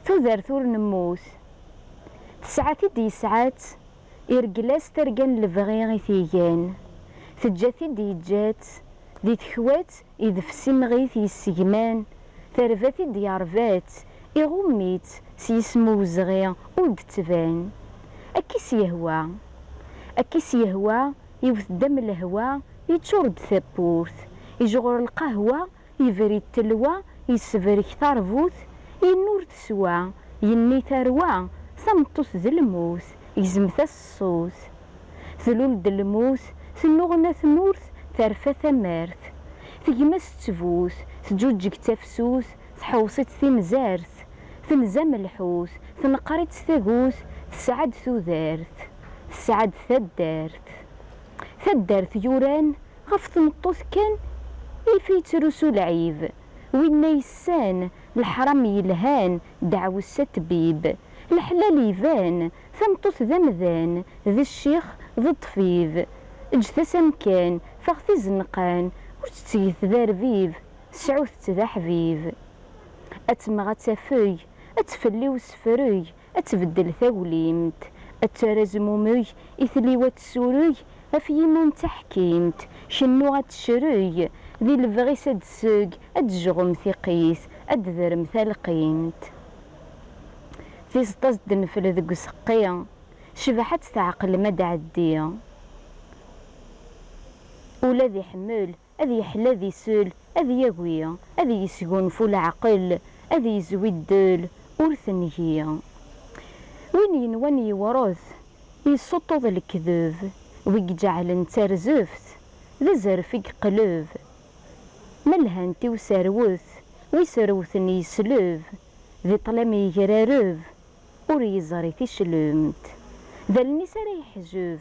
Tudert ur nemmut. Tesɛa-t-id yesɛa-tt, ireggel-as targa n lebɣi i t-igan. Teǧǧa-t-id yeǧǧa-tt, di tekwa-tt idef s imɣi-t yessegman, terba-t-id yerba-tt, iɣumm-itt s yisem uwezɣi ur d-tettban. Akka i s-yehwa. Akka i s-yehwa, iwet-d am lehwa, yeččur-d tawwurt, ijɣur lqahwa, Ibrid telwa yessebrek tarbut, yenna ur teswa, yenni tarwa, tameṭṭut d lmut, gzmet-as ṣṣut. Tlul-d lmut, tennuɣna tmurt, terfa tamart. Tegma-s ttbut, tǧuǧǧeg tafsut, tḥewṣ-itt timzart. Tenzamm lḥut, tenqer-itt tagut, tesɛa-d tudert, tesɛa-d taddart. Taddart yuran. Ɣef tmeṭṭut kan if yettrusu lɛib. Winna yessan leḥram yelhan deɛwes a ttbib. Leḥlal iban, tameṭṭut d amdan, d ccix, d ṭṭfib. Eǧǧet-as amkan, taɣt izenqan, ur tt-ttget d arbib, sɛut-tt d aḥbib. Ad temɣ ad tafeg, ad tfell i usefreg, ad tbeddel taglimt, ad terr azmumeg i tliwa ad tessureg af yiman d taḥkimt, cennuɣ ad tecreg, di lebɣi-s ad d-seg, ad d-jɣum tiqqit, ad d-drem talqimt. Tizeṭ-as d-nefl deg useqqi, cbaḥ ad tt-tɛeqlem ad d-ɛeddi. Ula d iḥemmel. Ad yeḥlu ad isel, ad yagi, ad yesgunfu leɛqel, ad yezwi ddel, ur tengi. Win yenwan yewṛet, yessuṭṭuḍ lekdeb, wi iǧeɛlen d tarzeft, d azref i yeqleb. Ma lhant i userwet, wi serwten yesleb, di ṭṭlam yegrareb, ur yeẓri ticlemt. D allen-is ara yeḥjeb,